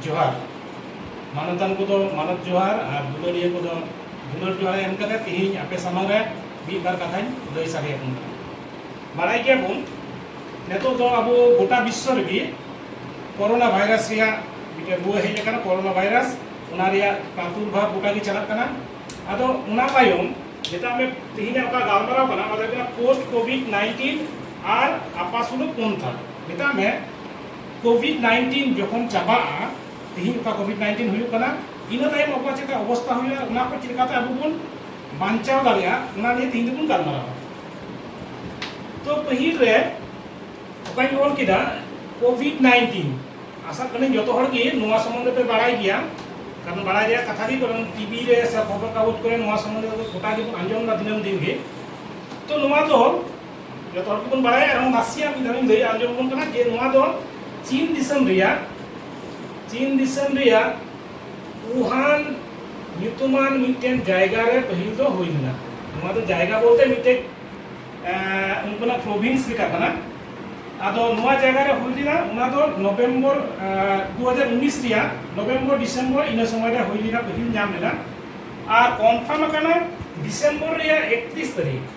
ᱡᱚᱦᱟᱨ ᱢᱟᱱᱚᱛᱟᱱ ᱠᱚᱫᱚ ᱢᱟᱱᱚᱛ ᱡᱚᱦᱟᱨ ᱟᱨ ᱫᱩᱞᱟᱹᱲᱤᱭᱟᱹ ᱠᱚᱫᱚ ᱫᱩᱞᱟᱹᱲ ᱡᱚᱦᱟᱨ ᱮᱢ ᱠᱟᱛᱮ ᱛᱮᱦᱮᱧ ᱟᱯᱮ ᱥᱟᱢᱟᱝ ᱨᱮ ᱢᱤᱫ ᱵᱟᱨ ᱠᱟᱛᱷᱟᱧ ᱞᱟᱹᱭ ᱥᱟᱰᱮ ᱟᱵᱚᱱ ᱠᱟᱱᱟ ᱵᱟᱲᱟᱭ ᱜᱮᱭᱟ ᱵᱚᱱ ᱱᱤᱛᱚᱜ ᱫᱚ ᱟᱵᱚ ᱜᱚᱴᱟ ᱵᱤᱥᱥᱚ ᱨᱮᱜᱮ ᱠᱚᱨᱳᱱᱟ ᱵᱷᱟᱭᱨᱟᱥ ᱨᱮᱭᱟᱜ ᱢᱤᱫᱴᱮᱱ ᱨᱩᱣᱟᱹ ᱦᱮᱡ ᱟᱠᱟᱱᱟ ᱠᱚᱨᱳᱱᱟ ᱵᱷᱟᱭᱨᱟᱥ ᱚᱱᱟ ᱨᱮᱭᱟᱜ ᱯᱨᱟᱫᱩᱨᱵᱷᱟᱵ ᱜᱚᱴᱟ ᱜᱮ ᱪᱟᱞᱟᱜ ᱠᱟᱱᱟ ᱟᱫᱚ ᱚᱱᱟ ᱛᱟᱭᱚᱢ ᱡᱮᱴᱟ ᱟᱢᱮ ᱛᱮᱦᱮᱧ ᱚᱠᱟ ᱜᱟᱞᱢᱟᱨᱟᱣ ᱠᱟᱱᱟ ᱚᱱᱟ ᱫᱚ ᱦᱩᱭᱩᱜ ᱠᱟᱱᱟ ᱯᱳᱥᱴ ᱠᱳᱵᱷᱤᱰ ᱱᱟᱭᱤᱱᱴᱤᱱ ᱟᱨ ᱟᱯᱟᱥᱩᱞᱩ ᱯᱚᱱᱛᱷᱟ ᱢᱮᱛᱟᱜ ᱢᱮ ᱠᱳᱵᱷᱤᱰ ᱱᱟᱭᱤᱱᱴᱤᱱ ᱡᱚᱠᱷᱚᱱ ᱪᱟᱵᱟᱜᱼᱟ ᱛᱮᱦᱮᱧ ᱚᱠᱟ ᱠᱳᱵᱷᱤᱰ ᱱᱟᱭᱤᱱᱴᱤᱱ ᱦᱩᱭᱩᱜ ᱠᱟᱱᱟ ᱤᱱᱟᱹ ᱛᱟᱭᱚᱢ ᱟᱵᱚᱣᱟᱜ ᱪᱮᱫ ᱞᱮᱠᱟ ᱚᱵᱚᱥᱛᱟ ᱦᱩᱭᱩᱜᱼᱟ ᱚᱱᱟ ᱠᱚ ᱪᱮᱫ ᱞᱮᱠᱟᱛᱮ ᱟᱵᱚ ᱵᱚᱱ ᱵᱟᱧᱪᱟᱣ ᱫᱟᱲᱮᱭᱟᱜᱼᱟ ᱚᱱᱟ ᱱᱤᱭᱮ ᱛᱮᱦᱮᱧ ᱫᱚᱵᱚᱱ ᱜᱟᱞᱢᱟᱨᱟᱣᱟ ᱛᱚ ᱯᱟᱹᱦᱤᱞ ᱨᱮ ᱚᱠᱟᱧ ᱚᱞ ᱠᱮᱫᱟ ᱠᱳᱵᱷᱤᱰ ᱱᱟᱭᱤᱱᱴᱤᱱ ᱟᱥᱟᱜ ᱠᱟᱹᱱᱟᱹᱧ ᱡᱚᱛᱚ ᱦᱚᱲ ᱜᱮ ᱱᱚᱣᱟ ᱥᱚᱢᱵᱚᱱᱫᱷᱮ ᱯᱮ ᱵᱟᱲᱟᱭ ᱜᱮᱭᱟ ᱠᱟᱨᱚᱱ ᱵᱟᱲᱟᱭ ᱨᱮᱭᱟᱜ ᱠᱟᱛᱷᱟ ᱜᱮ ᱠᱟᱨᱚᱱ ᱴᱤᱵᱷᱤ ᱨᱮ ᱥᱮ ᱠᱷᱚᱵᱚᱨ ᱠᱟᱜᱚᱡᱽ ᱠᱚᱨᱮ ᱱᱚᱣᱟ ᱥᱚᱢᱵᱚᱱᱫᱷᱮ ᱜᱚᱴᱟ ᱜᱮᱵᱚᱱ ᱟᱸᱡᱚᱢ ᱮᱫᱟ ᱫᱤᱱᱟᱹᱢ ᱫᱤᱱ ᱜᱮ ᱛᱚ ᱱᱚᱣᱟ ᱫᱚ ᱡᱚᱛᱚ ᱦᱚᱲ ᱠᱚᱵᱚᱱ ᱵᱟᱲᱟᱭᱟ ᱟᱨ ᱱᱟᱥᱮᱭᱟᱜ ᱢᱤᱫ ᱫᱷᱟᱣᱤᱧ ᱞᱟᱹᱭ ᱟᱸᱡᱚᱢ ᱟᱵᱚᱱ ᱠᱟᱱᱟ ᱡᱮ ᱱᱚᱣᱟ ᱫᱚ ᱪᱤᱱ ᱫᱤᱥᱚᱢ ᱨᱮᱭᱟᱜ ᱪᱤᱱ ᱫᱤᱥᱚᱢ ᱨᱮᱭᱟᱜ ᱣᱩᱦᱟᱱ ᱧᱩᱛᱩᱢᱟᱱ ᱢᱤᱫᱴᱮᱱ ᱡᱟᱭᱜᱟ ᱨᱮ ᱯᱟᱹᱦᱤᱞ ᱫᱚ ᱦᱩᱭ ᱞᱮᱱᱟ ᱱᱚᱣᱟ ᱫᱚ ᱡᱟᱭᱜᱟ ᱵᱚᱞᱛᱮ ᱢᱤᱫᱴᱮᱱ ᱩᱱᱠᱩᱱᱟᱜ ᱯᱨᱚᱵᱷᱤᱱᱥ ᱞᱮᱠᱟ ᱠᱟᱱᱟ ᱟᱫᱚ ᱱᱚᱣᱟ ᱡᱟᱭᱜᱟ ᱨᱮ ᱦᱩᱭ ᱞᱮᱱᱟ ᱚᱱᱟ ᱫᱚ ᱱᱚᱵᱷᱮᱢᱵᱚᱨ 2019 ᱨᱮᱭᱟᱜ ᱱᱚᱵᱷᱮᱢᱵᱚᱨ ᱰᱤᱥᱮᱢᱵᱚᱨ ᱤᱱᱟᱹ ᱥᱚᱢᱚᱭ ᱨᱮ ᱦᱩᱭ ᱞᱮᱱᱟ ᱯᱟᱹᱦᱤᱞ ᱧᱟᱢ ᱞᱮᱱᱟ ᱟᱨ ᱠᱚᱱᱯᱷᱟᱨᱢ ᱟᱠᱟᱱᱟ ᱰᱤᱥᱮᱢᱵᱚᱨ ᱨᱮᱭᱟᱜ 31 ᱛᱟᱹᱨᱤᱠᱷ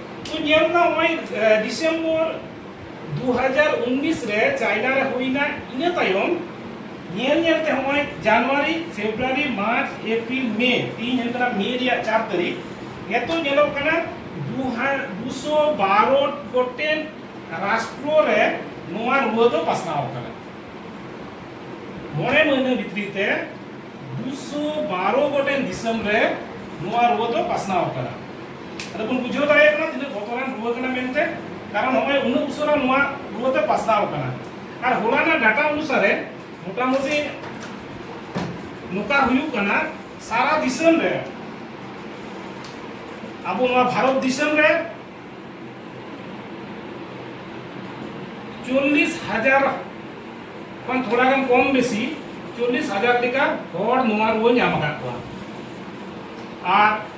ᱛᱚ ᱧᱮᱞ ᱢᱮ ᱱᱚᱜᱼᱚᱭ ᱰᱤᱥᱮᱢᱵᱚᱨ 2019 ᱨᱮ ᱪᱟᱭᱱᱟ ᱨᱮ ᱦᱩᱭᱱᱟ ᱤᱱᱟᱹ ᱛᱟᱭᱚᱢ ᱧᱮᱞ ᱧᱮᱞ ᱛᱮ ᱱᱚᱜᱼᱚᱭ ᱡᱟᱱᱩᱣᱟᱨᱤ ᱯᱷᱮᱵᱽᱨᱩᱣᱟᱨᱤ ᱢᱟᱨᱪ ᱮᱯᱨᱤᱞ ᱢᱮ ᱛᱤᱦᱤᱧ ᱦᱩᱭᱩᱜ ᱠᱟᱱᱟ ᱢᱮ ᱨᱮᱭᱟᱜ ᱪᱟᱨ ᱛᱟᱹᱨᱤᱠᱷ ᱱᱤᱛᱚᱜ ᱧᱮᱞᱚᱜ ᱠᱟᱱᱟ 212 ᱜᱚᱴᱮᱱ ᱨᱟᱥᱴᱨᱚ ᱨᱮ ᱱᱚᱣᱟ ᱨᱩᱣᱟᱹ ᱫᱚ ᱯᱟᱥᱱᱟᱣ ᱠᱟᱱᱟ ᱢᱚᱬᱮ ᱢᱟᱹᱦᱱᱟᱹ ᱵᱷᱤᱛᱨᱤ ᱛᱮ 212 ᱜᱚᱴᱮᱱ ᱫᱤᱥᱚᱢ ᱨᱮ ᱱᱚᱣᱟ ᱨᱩᱣᱟᱹ ᱫᱚ ᱯᱟᱥᱱᱟᱣ ᱠᱟᱱᱟ ᱟᱫᱚ ᱵᱚᱱ ᱵᱩᱡᱷᱟᱹᱣ ᱫᱟᱲᱮᱭᱟᱜ ᱠᱟᱱᱟ ᱛᱤᱱᱟᱹᱜ ᱵᱚᱛᱚᱨᱟᱱ ᱨᱩᱣᱟᱹ ᱠᱟᱱᱟ ᱢᱮᱱᱛᱮ ᱠᱟᱨᱚᱱ ᱱᱚᱜᱼᱚᱭ ᱩᱱᱟᱹᱜ ᱩᱥᱟᱹᱨᱟ ᱱᱚᱣᱟ ᱨᱩᱣᱟᱹ ᱫᱚ ᱯᱟᱥᱱᱟᱣ ᱠᱟᱱᱟ ᱟᱨ ᱦᱚᱞᱟᱱᱟᱜ ᱰᱟᱴᱟ ᱚᱱᱩᱥᱟᱨᱮ ᱢᱚᱴᱟᱢᱩᱴᱤ ᱱᱚᱝᱠᱟ ᱦᱩᱭᱩᱜ ᱠᱟᱱᱟ ᱥᱟᱨᱟ ᱫᱤᱥᱚᱢ ᱨᱮ ᱟᱵᱚ ᱱᱚᱣᱟ ᱵᱷᱟᱨᱚᱛ ᱫᱤᱥᱚᱢ ᱨᱮ ᱪᱚᱞᱞᱤᱥ ᱦᱟᱡᱟᱨ ᱠᱷᱚᱱ ᱛᱷᱚᱲᱟ ᱜᱟᱱ ᱠᱚᱢ ᱵᱮᱥᱤ ᱪᱚᱞᱞᱤᱥ ᱦᱟᱡᱟᱨ ᱞᱮᱠᱟ ᱦᱚᱲ ᱱᱚᱣᱟ ᱨᱩᱣᱟᱹ ᱧᱟᱢ ᱟᱠᱟᱫ ᱠᱚᱣᱟ ᱟᱨ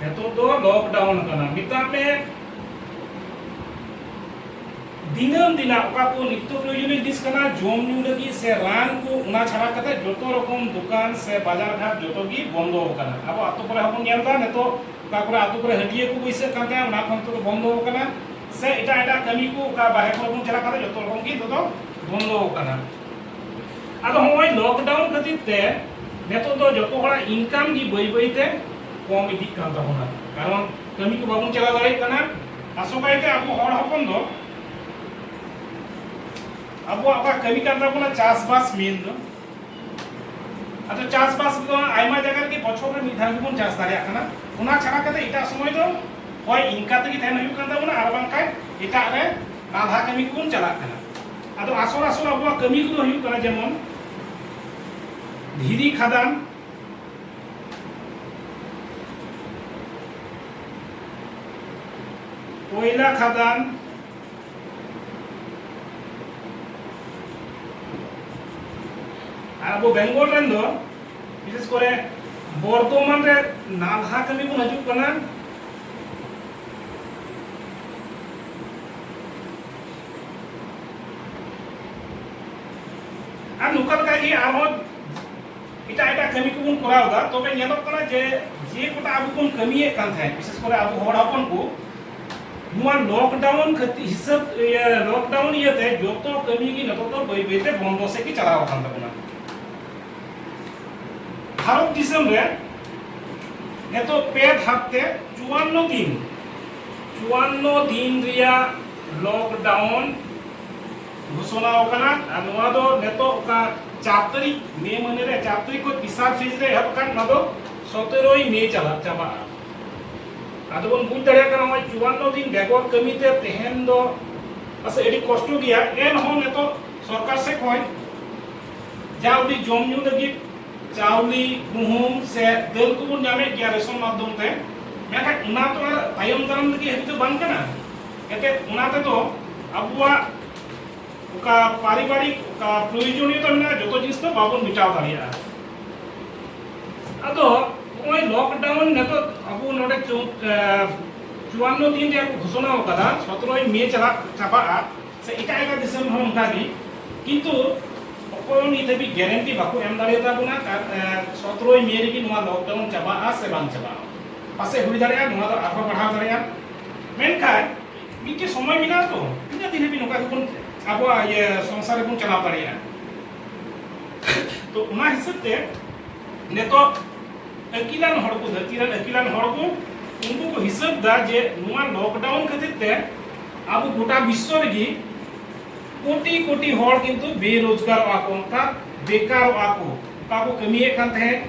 ᱱᱤᱛᱚᱜ ᱫᱚ ᱞᱚᱠᱰᱟᱣᱩᱱ ᱠᱟᱱᱟ ᱢᱮᱛᱟᱜ ᱢᱮ ᱫᱤᱱᱟᱹᱢ ᱫᱤᱱᱟᱜ ᱚᱠᱟ ᱠᱚ ᱱᱤᱛᱚᱜ ᱯᱨᱚᱭᱳᱡᱚᱱᱤᱭᱚ ᱡᱤᱱᱤᱥ ᱠᱟᱱᱟ ᱡᱚᱢ ᱧᱩ ᱞᱟᱹᱜᱤᱫ ᱥᱮ ᱨᱟᱱ ᱠᱚ ᱚᱱᱟ ᱪᱷᱟᱲᱟ ᱠᱟᱛᱮ ᱡᱚᱛᱚ ᱨᱚᱠᱚᱢ ᱫᱚᱠᱟᱱ ᱥᱮ ᱵᱟᱡᱟᱨ ᱜᱷᱟᱴ ᱡᱚᱛᱚ ᱜᱮ ᱵᱚᱱᱫᱚ ᱟᱠᱟᱱᱟ ᱟᱵᱚ ᱟᱛᱳ ᱠᱚᱨᱮ ᱦᱚᱸ ᱵᱚᱱ ᱧᱮᱞ ᱮᱫᱟ ᱱᱤᱛᱚᱜ ᱚᱠᱟ ᱠᱚᱨᱮ ᱟᱛᱳ ᱠᱚᱨᱮ ᱦᱟᱹᱴᱤᱭᱟᱹ ᱠᱚ ᱵᱟᱹᱭᱥᱟᱹᱜ ᱠᱟᱱ ᱛᱟᱦᱮᱸᱫ ᱚᱱᱟ ᱠᱚ ᱱᱤᱛᱚᱜ ᱫᱚ ᱵᱚᱱᱫᱚ ᱟᱠᱟᱱᱟ ᱥᱮ ᱮᱴᱟᱜ ᱮᱴᱟᱜ ᱠᱟᱹᱢᱤ ᱠᱚ ᱚᱠᱟ ᱵᱟᱦᱨᱮ ᱠᱚᱨᱮ ᱵᱚᱱ ᱪᱟᱞᱟᱜ ᱠᱟᱱᱟ ᱡᱚᱛᱚ ᱨᱚᱠᱚᱢ ᱜᱮ ᱱᱤᱛᱚᱜ ᱫᱚ ᱵᱚᱱᱫᱚ ᱟᱠᱟᱱᱟ ᱟᱫᱚ ᱦᱚᱸᱜᱼᱚᱭ ᱞᱚᱠᱰᱟᱣᱩᱱ ᱠᱷᱟᱹᱛᱤᱨ ᱛᱮ ᱱᱤᱛᱚᱜ ᱫᱚ ᱡᱚᱛᱚ ᱦᱚᱲᱟᱜ ᱤᱱᱠᱟᱢ ᱜᱮ ᱵᱟᱹᱭ ᱵᱟᱹᱭ ᱛᱮ ᱠᱚᱢ ᱤᱫᱤᱜ ᱠᱟᱱ ᱛᱟᱵᱚᱱᱟ ᱠᱟᱨᱚᱱ ᱠᱟᱹᱢᱤ ᱠᱚ ᱵᱟᱵᱚᱱ ᱪᱟᱞᱟᱣ ᱫᱟᱲᱮᱭᱟᱜ ᱠᱟᱱᱟ ᱟᱥᱚᱠᱟᱭ ᱛᱮ ᱟᱵᱚ ᱦᱚᱲ ᱦᱚᱯᱚᱱ ᱫᱚ ᱟᱵᱚᱣᱟᱜ ᱚᱠᱟ ᱠᱟᱹᱢᱤ ᱠᱟᱱ ᱛᱟᱵᱚᱱᱟ ᱪᱟᱥᱵᱟᱥ ᱢᱮᱱ ᱫᱚ ᱟᱫᱚ ᱪᱟᱥᱵᱟᱥ ᱫᱚ ᱟᱭᱢᱟ ᱡᱟᱭᱜᱟ ᱨᱮᱜᱮ ᱵᱚᱪᱷᱚᱨ ᱨᱮ ᱢᱤᱫ ᱫᱷᱟᱣ ᱜᱮᱵᱚᱱ ᱪᱟᱥ ᱫᱟᱲᱮᱭᱟᱜ ᱠᱟᱱᱟ ᱚᱱᱟ ᱪᱷᱟᱲᱟ ᱠᱟᱛᱮ ᱮᱴᱟᱜ ᱥᱚᱢᱚᱭ ᱫᱚ ᱦᱚᱭ ᱤᱱᱠᱟ ᱛᱮᱜᱮ ᱛᱟᱦᱮᱱ ᱦᱩᱭᱩᱜ ᱠᱟᱱ ᱛᱟᱵᱚᱱᱟ ᱟᱨ ᱵᱟᱝᱠᱷᱟᱱ ᱮᱴᱟᱜ ᱨᱮ ᱱᱟᱞᱦᱟ ᱠᱟᱹᱢᱤ ᱠᱚᱵᱚᱱ ᱪᱟᱞᱟᱜ ᱠᱟᱱᱟ ᱟᱫᱚ ᱟᱥᱚᱞ ᱟᱥᱚᱞ ᱟᱵᱚᱣᱟᱜ ᱠᱟᱹᱢᱤ ᱠᱚᱫᱚ ᱦᱩᱭᱩᱜ ᱠᱟᱱᱟ ᱡᱮᱢᱚᱱ ᱫᱷᱤᱨᱤ ᱠᱷᱟᱫᱟᱱ ᱠᱚᱭᱞᱟ ᱠᱷᱟᱫᱟᱱ ᱟᱨ ᱟᱵᱚ ᱵᱮᱝᱜᱚᱞ ᱨᱮᱱ ᱫᱚ ᱵᱤᱥᱮᱥ ᱠᱚᱨᱮ ᱵᱚᱨᱫᱷᱚᱢᱟᱱ ᱨᱮ ᱱᱟᱞᱦᱟ ᱠᱟᱹᱢᱤ ᱵᱚᱱ ᱦᱤᱡᱩᱜ ᱠᱟᱱᱟ ᱟᱨ ᱱᱚᱝᱠᱟ ᱞᱮᱠᱟ ᱜᱮ ᱟᱨᱦᱚᱸ ᱮᱴᱟᱜ ᱮᱴᱟᱜ ᱠᱟᱹᱢᱤ ᱠᱚᱵᱚᱱ ᱠᱚᱨᱟᱣ ᱮᱫᱟ ᱛᱚᱵᱮ ᱧᱮᱞᱚᱜ ᱠᱟᱱᱟ ᱡᱮ ᱡᱮ ᱠᱚᱴᱟ ᱟᱵᱚ ᱵᱚᱱ ᱠᱟᱹᱢᱤᱭᱮᱫ ᱠᱟᱱ ᱛᱟᱦᱮᱸᱫ ᱵᱤᱥᱮᱥ ᱠᱚᱨᱮ ᱟᱵᱚ ᱦᱚᱲ ᱦᱚᱯᱚᱱ ᱠᱚ ᱱᱚᱣᱟ ᱞᱚᱠᱰᱟᱣᱩᱱ ᱠᱷᱟᱹᱛᱤᱨ ᱦᱤᱥᱟᱹᱵ ᱞᱚᱠᱰᱟᱣᱩᱱ ᱤᱭᱟᱹᱛᱮ ᱡᱚᱛᱚ ᱠᱟᱹᱢᱤ ᱜᱮ ᱱᱤᱛᱚᱜ ᱫᱚ ᱵᱟᱹᱭ ᱵᱟᱹᱭᱛᱮ ᱵᱚᱱᱫᱚ ᱥᱮᱫ ᱜᱮ ᱪᱟᱞᱟᱣ ᱟᱠᱟᱱ ᱛᱟᱵᱚᱱᱟ ᱵᱷᱟᱨᱚᱛ ᱫᱤᱥᱚᱢ ᱨᱮ ᱱᱤᱛᱚᱜ ᱯᱮ ᱫᱷᱟᱯ ᱛᱮ ᱪᱩᱣᱟᱱᱱᱚ ᱫᱤᱱ ᱪᱩᱣᱟᱱᱱᱚ ᱫᱤᱱ ᱨᱮᱭᱟᱜ ᱞᱚᱠᱰᱟᱣᱩᱱ ᱜᱷᱳᱥᱚᱱᱟ ᱟᱠᱟᱱᱟ ᱟᱨ ᱱᱚᱣᱟ ᱫᱚ ᱱᱤᱛᱚᱜ ᱚᱠᱟ ᱪᱟᱨ ᱛᱟᱹᱨᱤᱠᱷ ᱢᱮ ᱢᱟᱹᱦᱱᱟᱹ ᱨᱮ ᱪᱟᱨ ᱛᱟᱹᱨᱤᱠᱷ ᱠᱷᱚᱱ ᱛᱤᱥᱟᱨ ᱯᱷᱮᱡᱽ ᱨᱮ ᱮᱦᱚᱵ ᱟᱠᱟᱱ ᱱᱚᱣᱟ ᱫᱚ ᱥᱚᱛᱮᱨᱳᱭ ᱢᱮ ᱪᱟᱞᱟᱜ ᱪᱟᱵᱟᱜᱼᱟ ᱟᱫᱚ ᱵᱚᱱ ᱵᱩᱡᱽ ᱫᱟᱲᱮᱭᱟᱜ ᱠᱟᱱᱟ ᱱᱚᱜᱼᱚᱭ ᱪᱩᱣᱟᱱᱱᱚ ᱫᱤᱱ ᱵᱮᱜᱚᱨ ᱠᱟᱹᱢᱤ ᱛᱮ ᱛᱮᱦᱮᱧ ᱫᱚ ᱯᱟᱥᱮᱡ ᱟᱹᱰᱤ ᱠᱚᱥᱴᱚ ᱜᱮᱭᱟ ᱮᱱᱦᱚᱸ ᱱᱤᱛᱚᱜ ᱥᱚᱨᱠᱟᱨ ᱥᱮᱫ ᱠᱷᱚᱱ ᱡᱟ ᱩᱰᱤ ᱡᱚᱢ ᱧᱩ ᱞᱟᱹᱜᱤᱫ ᱪᱟᱣᱞᱮ ᱜᱩᱦᱩᱢ ᱥᱮ ᱫᱟᱹᱞ ᱠᱚᱵᱚᱱ ᱧᱟᱢᱮᱫ ᱜᱮᱭᱟ ᱨᱮᱥᱚᱱ ᱢᱟᱫᱽᱫᱷᱚᱢ ᱛᱮ ᱢᱮᱱᱠᱷᱟᱱ ᱚᱱᱟ ᱛᱚ ᱟᱨ ᱛᱟᱭᱚᱢ ᱫᱟᱨᱟᱢ ᱞᱟᱹᱜᱤᱫ ᱦᱟᱹᱵᱤᱡ ᱫᱚ ᱵᱟᱝ ᱠᱟᱱᱟ ᱮᱱᱛᱮ ᱚᱱᱟ ᱛᱮᱫᱚ ᱟᱵᱚᱣᱟᱜ ᱚᱠᱟ ᱯᱟᱨᱤᱵᱟᱨᱤᱠ ᱚᱠᱟ ᱯᱨᱚᱭᱳᱡᱚᱱᱤᱭᱚᱛᱟ ᱢᱮᱱᱟᱜᱼᱟ ᱡᱚᱛᱚ ᱡᱤᱱᱤᱥ ᱫᱚ ᱵᱟᱵᱚᱱ ᱢᱮᱴᱟᱣ ᱫᱟᱲᱮᱭᱟᱜᱼᱟ ᱟᱫᱚ ᱱᱚᱜᱼᱚᱭ ᱞᱚᱠᱰᱟᱣᱩᱱ ᱱᱤᱛᱚᱜ ᱟᱵᱚ ᱱᱚᱰᱮ ᱪᱩᱣᱟᱱᱱᱚ ᱫᱤᱱ ᱨᱮᱭᱟᱜ ᱠᱚ ᱜᱷᱳᱥᱚᱱᱟ ᱟᱠᱟᱫᱟ ᱥᱚᱛᱨᱚᱭ ᱢᱮ ᱪᱟᱞᱟᱜ ᱪᱟᱵᱟᱜᱼᱟ ᱥᱮ ᱮᱴᱟᱜ ᱮᱴᱟᱜ ᱫᱤᱥᱚᱢ ᱦᱚᱸ ᱚᱱᱠᱟ ᱜᱮ ᱠᱤᱱᱛᱩ ᱚᱠᱚᱭ ᱱᱤᱛ ᱫᱷᱟᱹᱵᱤᱡ ᱜᱮᱨᱮᱱᱴᱤ ᱵᱟᱠᱚ ᱮᱢ ᱫᱟᱲᱮᱭᱟᱛᱟ ᱵᱚᱱᱟ ᱥᱚᱛᱨᱚᱭ ᱢᱮ ᱨᱮᱜᱮ ᱱᱚᱣᱟ ᱞᱚᱠᱰᱟᱣᱩᱱ ᱪᱟᱵᱟᱜᱼᱟ ᱥᱮ ᱵᱟᱝ ᱪᱟᱵᱟᱜᱼᱟ ᱯᱟᱥᱮ ᱦᱩᱭ ᱫᱟᱲᱮᱭᱟᱜᱼᱟ ᱱᱚᱣᱟ ᱫᱚ ᱟᱨᱦᱚᱸ ᱵᱟᱲᱦᱟᱣ ᱫᱟᱲᱮᱭᱟᱜᱼᱟ ᱢᱮᱱᱠᱷᱟᱱ ᱢᱤᱫᱴᱮᱱ ᱥᱚᱢᱚᱭ ᱢᱮᱱᱟᱜᱼᱟ ᱛᱚ ᱛᱤᱱᱟᱹᱜ ᱫᱤᱱ ᱦᱟᱹᱵᱤᱡ ᱱᱚᱝᱠᱟ ᱜᱮᱵᱚᱱ ᱟᱵᱚᱣᱟᱜ ᱤᱭᱟᱹ ᱥᱚᱝᱥᱟᱨ ᱨᱮᱵᱚᱱ ᱪᱟᱞᱟᱣ ᱫᱟᱲᱮᱭᱟᱜᱼᱟ ᱛᱚ ᱚᱱᱟ ᱦᱤᱥᱟᱹᱵ ᱛᱮ ᱱᱤᱛᱚᱜ ᱟᱹᱠᱤᱞᱟᱱ ᱦᱚᱲ ᱠᱚ ᱫᱷᱟᱹᱨᱛᱤ ᱨᱮᱱ ᱟᱹᱠᱤᱞᱟᱱ ᱦᱚᱲ ᱠᱚ ᱩᱱᱠᱩ ᱠᱚ ᱦᱤᱥᱟᱹᱵ ᱫᱟ ᱡᱮ ᱱᱚᱣᱟ ᱞᱚᱠᱰᱟᱣᱩᱱ ᱠᱷᱟᱹᱛᱤᱨ ᱛᱮ ᱟᱵᱚ ᱜᱚᱴᱟ ᱵᱤᱥᱥᱚ ᱨᱮᱜᱮ ᱠᱳᱴᱤ ᱠᱳᱴᱤ ᱦᱚᱲ ᱠᱤᱱᱛᱩ ᱵᱮᱨᱳᱡᱽᱜᱟᱨᱚᱜᱼᱟ ᱠᱚ ᱚᱱᱠᱟ ᱵᱮᱠᱟᱨᱚᱜᱼᱟ ᱠᱚ ᱚᱠᱟ ᱠᱚ ᱠᱟᱹᱢᱤᱭᱮᱫ ᱠᱟᱱ ᱛᱟᱦᱮᱸᱫ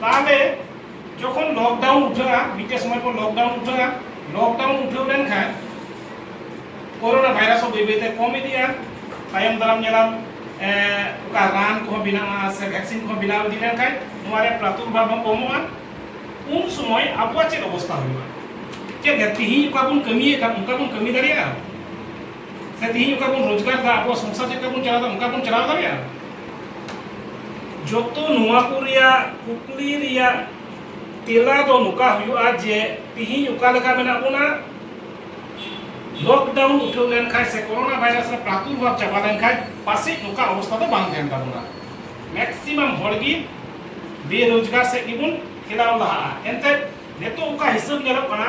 ᱛᱟᱦᱚᱞᱮ ᱡᱚᱠᱷᱚᱱ ᱞᱚᱠᱰᱟᱣᱩᱱ ᱩᱴᱷᱟᱹᱜᱼᱟ ᱢᱤᱫᱴᱮᱱ ᱥᱚᱢᱚᱭ ᱯᱚᱨ ᱞᱚᱠᱰᱟᱣᱩᱱ ᱩᱴᱷᱟᱹᱜᱼᱟ ᱞᱚᱠᱰᱟᱣᱩᱱ ᱩᱴᱷᱟᱹᱣ ᱞᱮᱱᱠᱷᱟᱱ ᱠᱳᱨᱳᱱᱟ ᱵᱷᱟᱭᱨᱟᱥ ᱦᱚᱸ ᱵᱟᱹᱭ ᱵᱟᱹᱭᱛᱮ ᱠᱚᱢ ᱤᱫᱤᱜᱼᱟ ᱛᱟᱭᱚᱢ ᱫᱟᱨᱟᱢ ᱧᱮᱞᱟᱢ ᱚᱠᱟ ᱨᱟᱱ ᱠᱚᱦᱚᱸ ᱵᱮᱱᱟᱜᱼᱟ ᱥᱮ ᱵᱷᱮᱠᱥᱤᱱ ᱠᱚᱦᱚᱸ ᱵᱮᱱᱟᱣ ᱤᱫᱤ ᱞᱮᱱᱠᱷᱟᱱ ᱱᱚᱣᱟ ᱨᱮ ᱯᱨᱟᱫᱩᱨᱵᱷᱟᱵ ᱦᱚᱸ ᱠᱚᱢᱚᱜᱼᱟ ᱩᱱ ᱥᱚᱢᱚᱭ ᱟᱵᱚᱣᱟᱜ ᱪᱮᱫ ᱚᱵᱚᱥᱛᱟ ᱦᱩᱭᱩᱜᱼᱟ ᱪᱮᱫ ᱛᱮᱦᱮᱧ ᱚᱠᱟ ᱵᱚᱱ ᱠᱟᱹᱢᱤᱭᱮᱫ ᱠᱟᱱ ᱚᱱᱠᱟ ᱵᱚᱱ ᱠᱟᱹᱢᱤ ᱫᱟᱲᱮᱭᱟᱜᱼᱟ ᱥᱮ ᱛᱮᱦᱮᱧ ᱚᱠᱟ ᱵᱚᱱ ᱨᱳᱡᱽᱜᱟᱨ ᱫᱟ ᱟᱵᱚ ᱥᱚᱝᱥᱟᱨ ᱪᱮᱫ ᱵᱚᱱ ᱪᱟᱞᱟᱣ ᱫᱟ ᱚᱱᱠᱟ ᱵᱚᱱ ᱪᱟᱞᱟᱣ ᱫᱟᱲᱮᱭᱟᱜᱼᱟ ᱡᱚᱛᱚ ᱱᱚᱣᱟ ᱠᱚ ᱨᱮᱭᱟᱜ ᱠᱩᱠᱞᱤ ᱨᱮᱭᱟᱜ ᱛᱮᱞᱟ ᱫᱚ ᱱᱚᱝᱠᱟ ᱦᱩᱭᱩᱜᱼᱟ ᱡᱮ ᱛᱮᱦᱮᱧ ᱚᱠᱟ ᱞᱮᱠᱟ ᱢᱮᱱᱟᱜ ᱵᱚᱱᱟ ᱞᱚᱠᱰᱟᱣᱩᱱ ᱩᱴᱷᱟᱹᱣ ᱞᱮᱱᱠᱷᱟᱱ ᱥᱮ ᱠᱚᱨᱳᱱᱟ ᱵᱷᱟᱭᱨᱟᱥ ᱨᱮ ᱯᱨᱟᱫᱩᱨᱵᱷᱟᱵ ᱪᱟᱵᱟ ᱞᱮᱱᱠᱷᱟᱱ ᱯᱟᱥᱮᱡ ᱱᱚᱝᱠᱟ ᱚᱵᱚᱥᱛᱟ ᱫᱚ ᱵᱟᱝ ᱛᱟᱦᱮᱱ ᱛᱟᱵᱚᱱᱟ ᱢᱮᱠᱥᱤᱢᱟᱢ ᱦᱚᱲ ᱜᱮ ᱵᱮᱨᱳᱡᱽᱜᱟᱨ ᱥᱮᱫ ᱜᱮᱵᱚᱱ ᱴᱷᱮᱞᱟᱣ ᱞᱟᱦᱟᱜᱼᱟ ᱮᱱᱛᱮᱫ ᱱᱤᱛᱚᱜ ᱚᱠᱟ ᱦᱤᱥᱟᱹᱵ ᱧᱮᱞᱚᱜ ᱠᱟᱱᱟ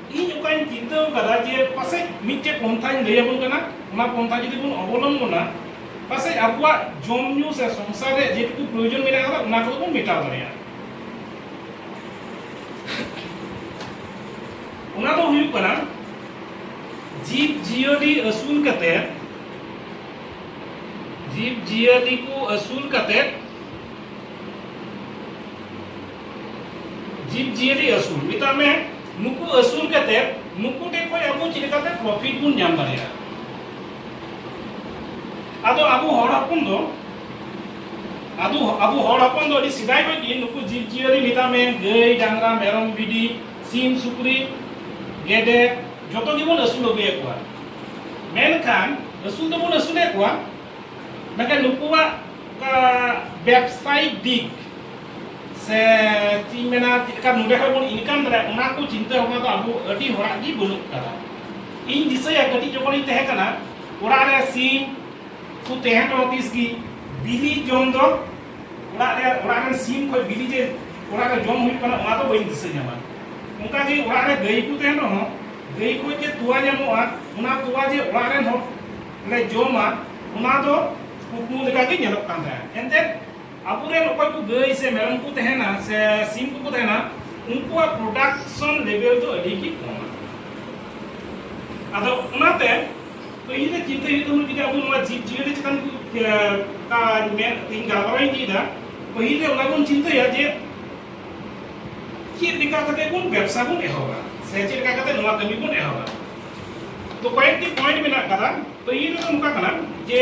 ᱤᱧ ᱚᱠᱟᱧ ᱪᱤᱱᱛᱟᱹ ᱟᱠᱟᱫᱟ ᱡᱮ ᱯᱟᱥᱮᱡ ᱢᱤᱫᱴᱮᱡ ᱯᱚᱱᱛᱷᱟᱧ ᱞᱟᱹᱭ ᱟᱵᱚᱱ ᱠᱟᱱᱟ ᱚᱱᱟ ᱯᱚᱱᱛᱷᱟ ᱡᱩᱫᱤ ᱵᱚᱱ ᱚᱵᱚᱞᱚᱢᱵᱚᱱᱟ ᱯᱟᱥᱮᱡ ᱟᱵᱚᱣᱟᱜ ᱡᱚᱢ ᱧᱩ ᱥᱮ ᱥᱚᱝᱥᱟᱨ ᱨᱮ ᱡᱮᱴᱩᱠᱩ ᱯᱨᱚᱭᱳᱡᱚᱱ ᱢᱮᱱᱟᱜ ᱟᱠᱟᱫᱟ ᱚᱱᱟ ᱠᱚᱫᱚ ᱵᱚᱱ ᱢᱮᱴᱟᱣ ᱫᱟᱲᱮᱭᱟᱜᱼᱟ ᱚᱱᱟ ᱫᱚ ᱦᱩᱭᱩᱜ ᱠᱟᱱᱟ ᱡᱤᱵᱽ ᱡᱤᱭᱟᱹᱞᱤ ᱟᱹᱥᱩᱞ ᱠᱟᱛᱮ ᱡᱤᱵᱽ ᱡᱤᱭᱟᱹᱞᱤ ᱠᱚ ᱟᱹᱥᱩᱞ ᱠᱟᱛᱮ ᱡᱤᱵᱽ ᱡᱤᱭᱟᱹᱞᱤ ᱟᱹᱥᱩᱞ ᱢᱮᱛᱟᱜ ᱢᱮ ᱱᱩᱠᱩ ᱟᱹᱥᱩᱞ ᱠᱟᱛᱮ ᱱᱩᱠᱩ ᱴᱷᱮᱱ ᱠᱷᱚᱱ ᱟᱵᱚ ᱪᱮᱫ ᱞᱮᱠᱟᱛᱮ ᱯᱨᱚᱯᱷᱤᱴ ᱵᱚᱱ ᱧᱟᱢ ᱫᱟᱲᱮᱭᱟᱜᱼᱟ ᱟᱫᱚ ᱟᱵᱚ ᱦᱚᱲ ᱦᱚᱯᱚᱱ ᱫᱚ ᱟᱫᱚ ᱟᱵᱚ ᱦᱚᱲ ᱦᱚᱯᱚᱱ ᱫᱚ ᱟᱹᱰᱤ ᱥᱮᱫᱟᱭ ᱠᱷᱚᱱ ᱜᱮ ᱱᱩᱠᱩ ᱡᱤᱵᱽ ᱡᱤᱭᱟᱹᱞᱤ ᱢᱮᱛᱟᱜ ᱢᱮ ᱜᱟᱹᱭ ᱰᱟᱝᱨᱟ ᱢᱮᱨᱚᱢ ᱵᱷᱤᱰᱤ ᱥᱤᱢ ᱥᱩᱠᱨᱤ ᱜᱮᱰᱮ ᱡᱚᱛᱚ ᱜᱮᱵᱚᱱ ᱟᱹᱥᱩᱞ ᱟᱹᱜᱩᱭᱮᱫ ᱠᱚᱣᱟ ᱢᱮᱱᱠᱷᱟᱱ ᱟᱹᱥᱩᱞ ᱫᱚᱵᱚᱱ ᱟᱹᱥᱩᱞᱮᱫ ᱠᱚᱣᱟ ᱢᱮᱱᱠᱷᱟᱱ ᱱᱩᱠᱩᱣᱟᱜ ᱵᱮᱵᱽᱥᱟᱭᱤᱠ ᱫᱤᱠ ᱥᱮ ᱪᱮᱫ ᱤᱧ ᱢᱮᱱᱟ ᱪᱮᱫ ᱞᱮᱠᱟ ᱱᱚᱰᱮ ᱠᱷᱚᱱ ᱵᱚᱱ ᱤᱱᱠᱟᱢ ᱫᱟᱲᱮᱭᱟᱜᱼᱟ ᱚᱱᱟ ᱠᱚ ᱪᱤᱱᱛᱟᱹ ᱵᱷᱟᱵᱽᱱᱟ ᱫᱚ ᱟᱵᱚ ᱟᱹᱰᱤ ᱦᱚᱲᱟᱜ ᱜᱮ ᱵᱟᱹᱱᱩᱜ ᱠᱟᱫᱟ ᱤᱧ ᱫᱤᱥᱟᱹᱭᱟ ᱠᱟᱹᱴᱤᱡ ᱡᱚᱠᱷᱚᱱᱤᱧ ᱛᱟᱦᱮᱸ ᱠᱟᱱᱟ ᱚᱲᱟᱜ ᱨᱮ ᱥᱤᱢ ᱠᱚ ᱛᱟᱦᱮᱸ ᱠᱟᱱᱟ ᱛᱤᱥ ᱜᱮ ᱵᱤᱞᱤ ᱡᱚᱢ ᱫᱚ ᱚᱲᱟᱜ ᱨᱮ ᱚᱲᱟᱜ ᱨᱮᱱ ᱥᱤᱢ ᱠᱷᱚᱱ ᱵᱤᱞᱤ ᱡᱮ ᱚᱲᱟᱜ ᱨᱮ ᱡᱚᱢ ᱦᱩᱭᱩᱜ ᱠᱟᱱᱟ ᱚᱱᱟ ᱫᱚ ᱵᱟᱹᱧ ᱫᱤᱥᱟᱹ ᱧᱟᱢᱟ ᱚᱱᱠᱟ ᱜᱮ ᱚᱲᱟᱜ ᱨᱮ ᱜᱟᱹᱭ ᱠᱚ ᱛᱟᱦᱮᱱ ᱨᱮᱦᱚᱸ ᱜᱟᱹᱭ ᱠᱷᱚᱱ ᱡᱮ ᱛᱚᱣᱟ ᱧᱟᱢᱚᱜᱼᱟ ᱚᱱᱟ ᱛᱚᱣᱟ ᱡᱮ ᱚᱲᱟᱜ ᱨᱮᱱ ᱦᱚᱲ ᱞᱮ ᱡᱚᱢᱟ ᱚᱱᱟ ᱫᱚ ᱠᱩᱠᱢᱩ ᱞᱮᱠᱟᱜᱮ ᱧᱮᱞᱚᱜ ᱠᱟᱱ ᱛᱟᱦᱮᱸᱫ ᱮᱱᱛᱮᱫ ᱟᱵᱚᱨᱮᱱ ᱚᱠᱚᱭ ᱠᱚ ᱜᱟᱹᱭ ᱥᱮ ᱢᱮᱨᱚᱢ ᱠᱚ ᱛᱟᱦᱮᱱᱟ ᱥᱮ ᱥᱤᱢ ᱠᱚᱠᱚ ᱛᱟᱦᱮᱱᱟ ᱩᱱᱠᱩᱣᱟᱜ ᱯᱨᱚᱰᱟᱠᱥᱚᱱ ᱞᱮᱵᱮᱞ ᱫᱚ ᱟᱹᱰᱤ ᱜᱮ ᱠᱚᱢᱟ ᱟᱫᱚ ᱚᱱᱟᱛᱮ ᱯᱟᱹᱦᱤᱞ ᱨᱮ ᱪᱤᱱᱛᱟᱹ ᱦᱩᱭᱩᱜ ᱛᱟᱵᱚᱱᱟ ᱡᱩᱫᱤ ᱟᱵᱚ ᱱᱚᱣᱟ ᱡᱤᱵᱽ ᱡᱤᱭᱟᱹᱞᱤ ᱪᱮᱛᱟᱱ ᱚᱠᱟ ᱢᱮᱱ ᱛᱮᱧ ᱜᱟᱞᱢᱟᱨᱟᱣ ᱤᱫᱤᱭᱮᱫᱟ ᱯᱟᱹᱦᱤᱞ ᱨᱮ ᱚᱱᱟ ᱵᱚᱱ ᱪᱤᱱᱛᱟᱹᱭᱟ ᱡᱮ ᱪᱮᱫ ᱞᱮᱠᱟ ᱠᱟᱛᱮ ᱵᱚᱱ ᱵᱮᱵᱽᱥᱟ ᱵᱚᱱ ᱮᱦᱚᱵᱟ ᱥᱮ ᱪᱮᱫ ᱞᱮᱠᱟ ᱠᱟᱛᱮ ᱱᱚᱣᱟ ᱠᱟᱹᱢᱤ ᱵᱚᱱ ᱮᱦᱚᱵᱟ ᱛᱚ ᱠᱚᱭᱮᱠᱴᱤ ᱯᱚᱭᱮᱱᱴ ᱢᱮᱱᱟᱜ ᱠᱟᱫᱟ ᱯᱟᱹᱦᱤᱞ ᱨᱮᱫᱚ ᱱᱚᱝᱠᱟ ᱠᱟᱱᱟ ᱡᱮ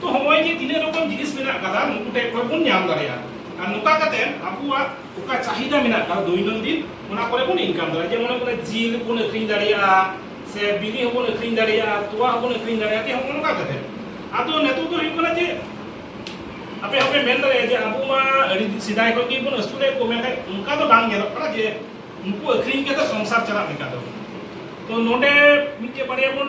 ᱛᱚ ᱦᱚᱸᱜᱼᱚᱭ ᱡᱮ ᱛᱤᱱᱟᱹᱜ ᱨᱚᱠᱚᱢ ᱡᱤᱱᱤᱥ ᱢᱮᱱᱟᱜ ᱟᱠᱟᱫᱟ ᱱᱩᱠᱩ ᱴᱷᱮᱱ ᱠᱷᱚᱱ ᱵᱚᱱ ᱧᱟᱢ ᱫᱟᱲᱮᱭᱟᱜᱼᱟ ᱟᱨ ᱱᱚᱝᱠᱟ ᱠᱟᱛᱮ ᱟᱵᱚᱣᱟᱜ ᱚᱠᱟ ᱪᱟᱦᱤᱫᱟ ᱢᱮᱱᱟᱜ ᱟᱠᱟᱫᱟ ᱫᱳᱭᱱᱚᱱᱫᱤᱱ ᱚᱱᱟ ᱠᱚᱨᱮ ᱵᱚᱱ ᱤᱱᱠᱟᱢ ᱫᱟᱲᱮᱭᱟᱜᱼᱟ ᱡᱮᱢᱚᱱ ᱦᱩᱭᱩᱜ ᱠᱟᱱᱟ ᱡᱤᱞ ᱵᱚᱱ ᱟᱹᱠᱷᱨᱤᱧ ᱫᱟᱲᱮᱭᱟᱜᱼᱟ ᱥᱮ ᱵᱤᱞᱤ ᱦᱚᱸ ᱵᱚᱱ ᱟᱹᱠᱷᱨᱤᱧ ᱫᱟᱲᱮᱭᱟᱜᱼᱟ ᱛᱚᱣᱟ ᱦᱚᱸ ᱵᱚᱱ ᱟᱹᱠᱷᱨᱤᱧ ᱫᱟᱲᱮᱭᱟᱜᱼᱟ ᱦᱚᱸᱜᱼᱚ ᱱᱚᱝᱠᱟ ᱠᱟᱛᱮ ᱟᱫᱚ ᱱᱤᱛᱚᱜ ᱫᱚ ᱦᱩᱭᱩᱜ ᱠᱟᱱᱟ ᱡᱮ ᱟᱯᱮ ᱦᱚᱸᱯᱮ ᱢᱮᱱ ᱫᱟᱲᱮᱭᱟᱜᱼᱟ ᱡᱮ ᱟᱵᱚ ᱢᱟ ᱟᱹᱰᱤ ᱥᱮᱫᱟᱭ ᱠᱷᱚᱱ ᱜᱮ ᱵᱚᱱ ᱟᱹᱥᱩᱞᱮᱫ ᱠᱚ ᱢᱮᱱᱠᱷᱟᱱ ᱚᱱᱠᱟ ᱫᱚ ᱵᱟᱝ ᱧᱮᱞᱚᱜ ᱠᱟᱱᱟ ᱡᱮ ᱩᱱᱠᱩ ᱟᱹᱠᱷᱨᱤᱧ ᱠᱟᱛᱮ ᱥᱚᱝᱥᱟᱨ ᱪᱟᱞᱟᱜ ᱞᱮᱠᱟ ᱫᱚ ᱛᱚ ᱱᱚᱰᱮ ᱢᱤᱫᱴᱮᱡ ᱵᱟᱨᱭᱟ ᱵᱚᱱ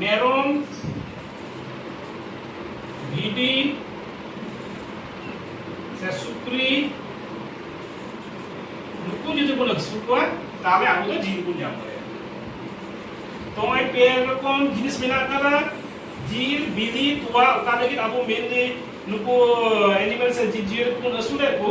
ᱢᱮᱨᱚᱢ ᱵᱷᱤᱰᱤ ᱥᱮ ᱥᱩᱠᱨᱤ ᱱᱩᱠᱩ ᱡᱩᱫᱤ ᱵᱚᱱ ᱟᱹᱥᱩᱞ ᱠᱚᱣᱟ ᱛᱟᱦᱚᱞᱮ ᱟᱵᱚ ᱫᱚ ᱡᱤᱞ ᱵᱚᱱ ᱧᱟᱢ ᱫᱟᱲᱮᱭᱟᱜᱼᱟ ᱛᱚ ᱱᱚᱜᱼᱚᱭ ᱯᱮ ᱨᱚᱠᱚᱢ ᱡᱤᱱᱤᱥ ᱢᱮᱱᱟᱜ ᱟᱠᱟᱫᱟ ᱡᱤᱞ ᱵᱤᱞᱤ ᱛᱚᱣᱟ ᱚᱠᱟ ᱞᱟᱹᱜᱤᱫ ᱟᱵᱚ ᱢᱮᱱᱞᱤ ᱱᱩᱠᱩ ᱮᱱᱤᱢᱮᱞ ᱥᱮ ᱡᱤᱵᱽ ᱡᱤᱭᱟᱹᱞᱤ ᱠᱚᱵᱚᱱ ᱟᱹᱥᱩᱞᱮᱫ ᱠᱚ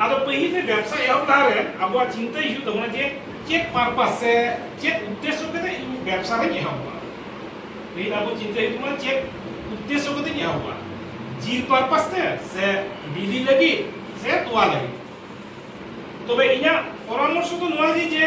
ᱟᱫᱚ ᱯᱟᱹᱦᱤᱞ ᱨᱮ ᱵᱮᱵᱥᱟ ᱮᱦᱚᱵ ᱞᱟᱦᱟ ᱨᱮ ᱟᱵᱚᱣᱟᱜ ᱪᱤᱱᱛᱟᱹ ᱦᱤᱡᱩᱜ ᱛᱟᱵᱚᱱᱟ ᱡᱮ ᱪᱮᱫ ᱯᱟᱨᱯᱟᱥ ᱥᱮ ᱪᱮᱫ ᱩᱫᱽᱫᱮᱥᱥᱚ ᱠᱟᱛᱮ ᱤᱧ ᱵᱮᱵᱥᱟ ᱨᱮᱧ ᱮᱦᱚᱵᱟ ᱯᱟᱹᱦᱤᱞ ᱟᱵᱚ ᱪᱤᱱᱛᱟᱹ ᱦᱤᱡᱩᱜ ᱛᱟᱵᱚᱱᱟ ᱪᱮᱫ ᱩᱫᱽᱫᱮᱥᱥᱚ ᱠᱟᱛᱮ ᱤᱧ ᱮᱦᱚᱵᱟ ᱡᱤᱞ ᱯᱟᱨᱯᱟᱥ ᱛᱮ ᱥᱮ ᱵᱤᱞᱤ ᱞᱟᱹᱜᱤᱫ ᱥᱮ ᱛᱚᱣᱟ ᱞᱟᱹᱜᱤᱫ ᱛᱚᱵᱮ ᱤᱧᱟᱹᱜ ᱯᱚᱨᱟᱢᱚᱨᱥᱚ ᱫᱚ ᱱᱚᱣᱟ ᱜᱮ ᱡᱮ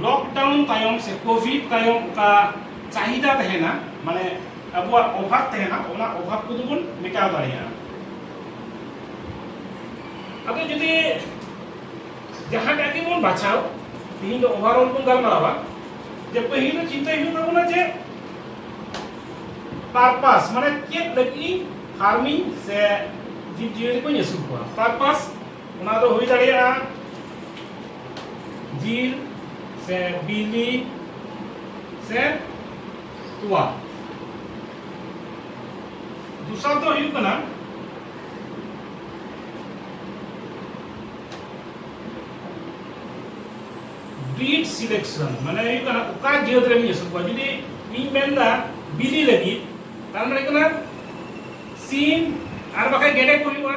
ᱞᱚᱠᱰᱟᱣᱩᱱ ᱛᱟᱭᱚᱢ ᱥᱮ ᱠᱳᱵᱷᱤᱰ ᱛᱟᱭᱚᱢ ᱚᱠᱟ ᱪᱟᱦᱤᱫᱟ ᱛᱟᱦᱮᱱᱟ ᱢᱟᱱᱮ ᱟᱵᱚᱣᱟᱜ ᱚᱵᱷᱟᱵ ᱛᱟᱦᱮᱱᱟ ᱚᱱᱟ ᱚᱵᱷᱟᱵ ᱠᱚᱫᱚ ᱵᱚᱱ ᱢᱮᱴᱟᱣ ᱫᱟᱲᱮᱭᱟᱜᱼᱟ ᱟᱫᱚ ᱡᱩᱫᱤ ᱡᱟᱦᱟᱸᱴᱟᱜ ᱜᱮᱵᱚᱱ ᱵᱟᱪᱷᱟᱣ ᱛᱮᱦᱮᱧ ᱫᱚ ᱳᱵᱷᱟᱨᱚᱞ ᱵᱚᱱ ᱜᱟᱞᱢᱟᱨᱟᱣᱟ ᱡᱮ ᱯᱟᱹᱦᱤᱞ ᱫᱚ ᱪᱤᱱᱛᱟᱹᱭ ᱦᱩᱭᱩᱜ ᱛᱟᱵᱚᱱᱟ ᱡᱮ ᱯᱟᱨᱯᱟᱥ ᱢᱟᱱᱮ ᱪᱮᱫ ᱞᱟᱹᱜᱤᱫ ᱯᱷᱟᱨᱢᱤᱝ ᱥᱮ ᱡᱤᱵᱽ ᱡᱤᱭᱟᱹᱞᱤ ᱠᱚᱧ ᱟᱹᱥᱩᱞ ᱠᱚᱣᱟ ᱯᱟᱨᱯᱟᱥ ᱚᱱᱟ ᱫᱚ ᱦᱩᱭ ᱫᱟᱲᱮᱭᱟᱜᱼᱟ ᱡᱤᱞ ᱥᱮ ᱵᱤᱞᱤ ᱥᱮ ᱛᱚᱣᱟ ᱫᱚᱥᱟᱨ ᱫᱚ ᱦᱩᱭᱩᱜ ᱠᱟᱱᱟ ᱵᱤᱴ ᱥᱤᱞᱮᱠᱥᱚᱱ ᱢᱟᱱᱮ ᱦᱩᱭᱩᱜ ᱠᱟᱱᱟ ᱚᱠᱟ ᱡᱟᱹᱛ ᱨᱮᱱ ᱟᱹᱥᱩᱞ ᱠᱚᱣᱟ ᱡᱩᱫᱤ ᱤᱧ ᱢᱮᱱᱫᱟ ᱵᱤᱞᱤ ᱞᱟᱹᱜᱤᱫ ᱛᱟᱨ ᱢᱟᱱᱮ ᱠᱟᱱᱟ ᱥᱤᱢ ᱟᱨ ᱵᱟᱠᱷᱟᱡ ᱜᱮᱰᱮ ᱠᱚ ᱦᱩᱭᱩᱜᱼᱟ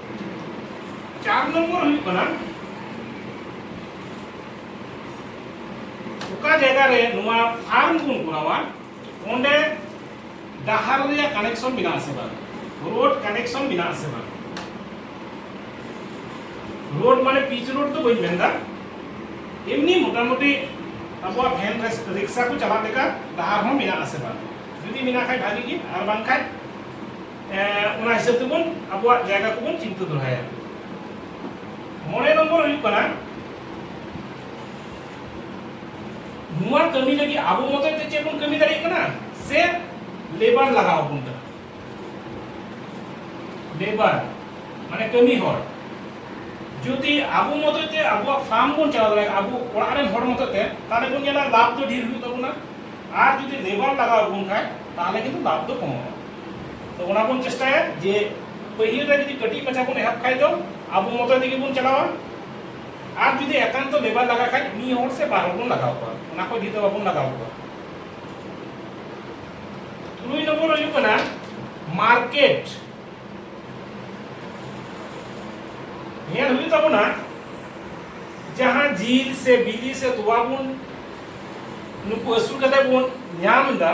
ᱪᱟᱨ ᱱᱚᱢᱵᱚᱨ ᱦᱩᱭᱩᱜ ᱠᱟᱱᱟ ᱚᱠᱟ ᱡᱟᱭᱜᱟ ᱨᱮ ᱱᱚᱣᱟ ᱯᱷᱟᱨᱢ ᱵᱚᱱ ᱠᱚᱨᱟᱣᱟ ᱚᱸᱰᱮ ᱰᱟᱦᱟᱨ ᱨᱮᱭᱟᱜ ᱠᱟᱱᱮᱠᱥᱚᱱ ᱢᱮᱱᱟᱜ ᱟᱥᱮ ᱵᱟᱝ ᱨᱳᱰ ᱠᱟᱱᱮᱠᱥᱚᱱ ᱢᱮᱱᱟᱜ ᱟᱥᱮ ᱵᱟᱝ ᱨᱳᱰ ᱢᱟᱱᱮ ᱯᱤᱪ ᱨᱳᱰ ᱫᱚ ᱵᱟᱹᱧ ᱢᱮᱱᱫᱟ ᱮᱢᱱᱤ ᱢᱚᱴᱟᱢᱩᱴᱤ ᱟᱵᱚᱣᱟᱜ ᱵᱷᱮᱱ ᱨᱤᱠᱥᱟ ᱠᱚ ᱪᱟᱞᱟᱜ ᱞᱮᱠᱟ ᱰᱟᱦᱟᱨ ᱦᱚᱸ ᱢᱮᱱᱟᱜ ᱟᱥᱮ ᱵᱟᱝ ᱡᱩᱫᱤ ᱢᱮᱱᱟᱜ ᱠᱷᱟᱡ ᱵᱷᱟᱜᱤ ᱜᱮ ᱟᱨ ᱵᱟᱝᱠᱷᱟᱡ ᱚᱱᱟ ᱦᱤᱥᱟᱹᱵ ᱛᱮᱵᱚᱱ ᱟᱵᱚᱣᱟᱜ ᱡᱟᱭᱜᱟ ᱠᱚᱵᱚᱱ ᱪᱤᱱᱛᱟᱹ ᱫᱚᱦᱚᱭᱟ ᱢᱚᱬᱮ ᱱᱚᱢᱵᱚᱨ ᱦᱩᱭᱩᱜ ᱠᱟᱱᱟ ᱱᱚᱣᱟ ᱠᱟᱹᱢᱤ ᱞᱟᱹᱜᱤᱫ ᱟᱵᱚ ᱢᱚᱛᱚ ᱛᱮ ᱪᱮᱫ ᱵᱚᱱ ᱠᱟᱹᱢᱤ ᱫᱟᱲᱮᱭᱟᱜ ᱠᱟᱱᱟ ᱥᱮ ᱞᱮᱵᱟᱨ ᱞᱟᱜᱟᱣ ᱵᱚᱱ ᱠᱟᱱᱟ ᱞᱮᱵᱟᱨ ᱢᱟᱱᱮ ᱠᱟᱹᱢᱤ ᱦᱚᱲ ᱡᱩᱫᱤ ᱟᱵᱚ ᱢᱚᱛᱚ ᱛᱮ ᱟᱵᱚᱣᱟᱜ ᱯᱷᱟᱨᱢ ᱵᱚᱱ ᱪᱟᱞᱟᱣ ᱫᱟᱲᱮᱭᱟᱜᱼᱟ ᱟᱵᱚ ᱚᱲᱟᱜ ᱨᱮᱱ ᱦᱚᱲ ᱢᱚᱛᱚ ᱛᱮ ᱛᱟᱦᱞᱮ ᱵᱚᱱ ᱧᱮᱞᱟ ᱞᱟᱵᱷ ᱫᱚ ᱰᱷᱮᱨ ᱦᱩᱭᱩᱜ ᱛᱟᱵᱚᱱᱟ ᱟᱨ ᱡᱩᱫᱤ ᱞᱮᱵᱟᱨ ᱞᱟᱜᱟᱣ ᱵᱚᱱ ᱠᱷᱟᱡ ᱛᱟᱦᱞᱮ ᱠᱤᱱᱛᱩ ᱞᱟᱵᱷ ᱫᱚ ᱠᱚᱢᱚᱜᱼᱟ ᱛᱚ ᱚᱱᱟ ᱵᱚᱱ ᱪᱮᱥᱴᱟᱭᱟ ᱡᱮ ᱯᱟᱹᱦᱤᱞ ᱨᱮ ᱡᱩᱫᱤ ᱠᱟᱹᱴᱤᱡ ᱢᱟᱪᱷᱟ ᱵᱚᱱ ᱮᱦᱚᱵ ᱠᱷᱟᱡ ᱫᱚ ᱟᱵᱚ ᱢᱚᱛᱚ ᱛᱮᱜᱮ ᱵᱚᱱ ᱪᱟᱞᱟᱣᱟ ᱟᱨ ᱡᱩᱫᱤ ᱮᱠᱟᱱᱛᱚ ᱞᱮᱵᱟᱨ ᱞᱟᱜᱟ ᱠᱷᱟᱡ ᱢᱤᱫ ᱦᱚᱲ ᱥᱮ ᱵᱟᱨ ᱦᱚᱲ ᱵᱚᱱ ᱞᱟᱜᱟᱣ ᱠᱚᱣᱟ ᱚᱱᱟ ᱠᱷᱚᱡ ᱰᱷᱮᱨ ᱫᱚ ᱵᱟᱵᱚᱱ ᱞᱟᱜᱟᱣ ᱠᱚᱣᱟ ᱛᱩᱨᱩᱭ ᱱᱚᱢᱵᱚᱨ ᱦᱩᱭᱩᱜ ᱠᱟᱱᱟ ᱢᱟᱨᱠᱮᱴ ᱧᱮᱞ ᱦᱩᱭᱩᱜ ᱛᱟᱵᱚᱱᱟ ᱡᱟᱦᱟᱸ ᱡᱤᱞ ᱥᱮ ᱵᱤᱞᱤ ᱥᱮ ᱛᱚᱣᱟ ᱵᱚᱱ ᱱᱩᱠᱩ ᱟᱹᱥᱩᱞ ᱠᱟᱛᱮ ᱵᱚᱱ ᱧᱟᱢ ᱮᱫᱟ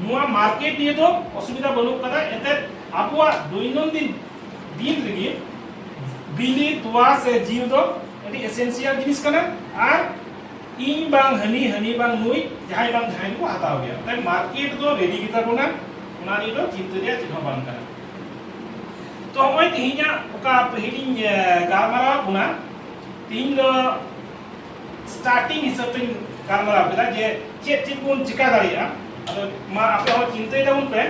ᱱᱚᱣᱟ ᱢᱟᱨᱠᱮᱴ ᱱᱤᱭᱮ ᱫᱚ ᱚᱥᱩᱵᱤᱫᱷᱟ ᱵᱟᱹᱱᱩᱜ ᱠᱟᱫᱟ ᱮᱱᱛᱮ ᱟᱵᱚᱣᱟᱜ ᱫᱚᱭᱱᱚᱱᱫᱤᱱ ᱫᱤᱱ ᱨᱮᱜᱮ ᱵᱤᱞᱤ ᱛᱚᱣᱟ ᱥᱮ ᱡᱤᱞ ᱫᱚ ᱟᱹᱰᱤ ᱮᱥᱮᱱᱥᱤᱭᱟᱞ ᱡᱤᱱᱤᱥ ᱠᱟᱱᱟ ᱟᱨ ᱤᱧ ᱵᱟᱝ ᱦᱟᱹᱱᱤ ᱦᱟᱹᱱᱤ ᱵᱟᱝ ᱱᱩᱭ ᱡᱟᱦᱟᱸᱭ ᱵᱟᱝ ᱡᱟᱦᱟᱸᱭ ᱠᱚ ᱦᱟᱛᱟᱣ ᱜᱮᱭᱟ ᱛᱟᱭ ᱢᱟᱨᱠᱮᱴ ᱫᱚ ᱨᱮᱰᱤ ᱜᱮᱛᱟ ᱵᱚᱱᱟ ᱚᱱᱟ ᱱᱤᱭᱮ ᱫᱚ ᱪᱤᱱᱛᱟᱹ ᱨᱮᱭᱟᱜ ᱪᱮᱫ ᱦᱚᱸ ᱵᱟᱝ ᱠᱟᱱᱟ ᱛᱚ ᱱᱚᱜᱼᱚᱭ ᱛᱮᱦᱮᱧᱟᱜ ᱚᱠᱟ ᱯᱟᱹᱦᱤᱞᱤᱧ ᱜᱟᱞᱢᱟᱨᱟᱣ ᱵᱚᱱᱟ ᱛᱮᱦᱮᱧ ᱫᱚ ᱥᱴᱟᱨᱴᱤᱝ ᱦᱤᱥᱟᱹᱵ ᱛᱮᱧ ᱜᱟᱞᱢᱟᱨᱟᱣ ᱠᱮᱫᱟ ᱡᱮ ᱪᱮᱫ ᱪᱮᱫ ᱵᱚᱱ ᱪᱤᱠᱟ ᱫᱟᱲᱮᱭᱟᱜᱼᱟ ᱟᱫᱚ ᱢᱟ ᱟᱯᱮ ᱦᱚᱸ ᱪᱤᱱᱛᱟᱹᱭ ᱛᱟᱵᱚᱱ ᱯᱮ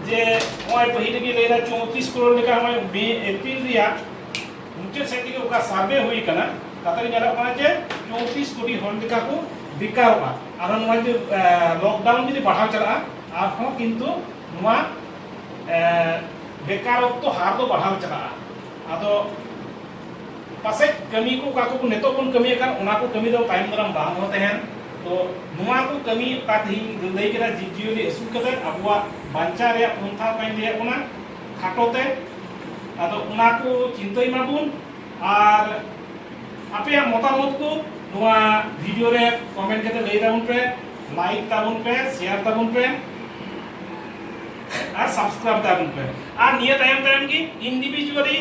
ᱡᱮ ᱱᱚᱜᱼᱚᱭ ᱯᱟᱹᱦᱤᱞ ᱨᱮᱜᱮ ᱞᱟᱹᱭᱫᱟ ᱪᱚᱣᱛᱨᱤᱥ ᱠᱨᱳᱲ ᱞᱮᱠᱟ ᱱᱚᱜᱼᱚᱭ ᱢᱮ ᱮᱯᱨᱤᱞ ᱨᱮᱭᱟᱜ ᱢᱩᱪᱟᱹᱫ ᱥᱮᱫ ᱛᱮᱜᱮ ᱚᱠᱟ ᱥᱟᱨᱵᱷᱮ ᱦᱩᱭ ᱟᱠᱟᱱᱟ ᱛᱟᱛᱮ ᱧᱮᱞᱚᱜ ᱠᱟᱱᱟ ᱡᱮ ᱪᱚᱣᱛᱨᱤᱥ ᱠᱳᱴᱤ ᱦᱚᱲ ᱞᱮᱠᱟ ᱠᱚ ᱵᱮᱠᱟᱨᱚᱜᱼᱟ ᱟᱨᱦᱚᱸ ᱱᱚᱣᱟ ᱡᱩᱫᱤ ᱞᱚᱠᱰᱟᱣᱩᱱ ᱡᱩᱫᱤ ᱵᱟᱲᱦᱟᱣ ᱪᱟᱞᱟᱜᱼᱟ ᱟᱨᱦᱚᱸ ᱠᱤᱱᱛᱩ ᱱᱚᱣᱟ ᱵᱮᱠᱟᱨᱚᱛᱛᱚ ᱦᱟᱨ ᱫᱚ ᱵᱟᱲᱦᱟᱣ ᱪᱟᱞᱟᱜᱼᱟ ᱟᱫᱚ ᱯᱟᱥᱮᱡ ᱠᱟᱹᱢᱤ ᱠᱚ ᱚᱠᱟ ᱠᱚ ᱱᱤᱛᱚᱜ ᱵᱚᱱ ᱠᱟᱹᱢᱤᱭᱮᱫ ᱠᱟᱱ ᱚᱱᱟ ᱠᱚ ᱠᱟᱹᱢᱤ ᱫᱚ ᱛᱟᱭᱚᱢ ᱫᱟᱨᱟᱢ ᱵᱟᱝ ᱦᱚᱸ ᱛᱟᱦᱮᱱ ᱛᱚ ᱱᱚᱣᱟ ᱠᱚ ᱠᱟᱹᱢᱤ ᱚᱠᱟ ᱛᱮᱦᱮᱧ ᱞᱟᱹᱭ ᱠᱮᱫᱟ ᱡᱤᱵᱽ ᱡᱤᱭᱟᱹᱞᱤ ᱟᱹᱥᱩᱞ ᱠᱟᱛᱮ ᱟᱵᱚᱣᱟᱜ ᱵᱟᱧᱪᱟᱣ ᱨᱮᱭᱟᱜ ᱯᱚᱱᱛᱷᱟ ᱚᱠᱟᱧ ᱞᱟᱹᱭᱟᱫ ᱵᱚᱱᱟ ᱠᱷᱟᱴᱚ ᱛᱮ ᱟᱫᱚ ᱚᱱᱟ ᱠᱚ ᱪᱤᱱᱛᱟᱹᱭ ᱢᱟᱵᱚᱱ ᱟᱨ ᱟᱯᱮᱭᱟᱜ ᱢᱚᱛᱟᱢᱚᱛ ᱠᱚ ᱱᱚᱣᱟ ᱵᱷᱤᱰᱤᱭᱳ ᱨᱮ ᱠᱚᱢᱮᱱᱴ ᱠᱟᱛᱮ ᱞᱟᱹᱭ ᱛᱟᱵᱚᱱ ᱯᱮ ᱞᱟᱭᱤᱠ ᱛᱟᱵᱚᱱ ᱯᱮ ᱥᱮᱭᱟᱨ ᱛᱟᱵᱚᱱ ᱯᱮ ᱟᱨ ᱥᱟᱵᱥᱠᱨᱟᱭᱤᱵ ᱛᱟᱵᱚᱱ ᱯᱮ ᱟᱨ ᱱᱤᱭᱟᱹ ᱛᱟᱭᱚᱢ ᱛᱟᱭᱚᱢ ᱜᱮ ᱤᱱᱰᱤᱵᱷᱤᱡᱩᱣᱟᱞᱤ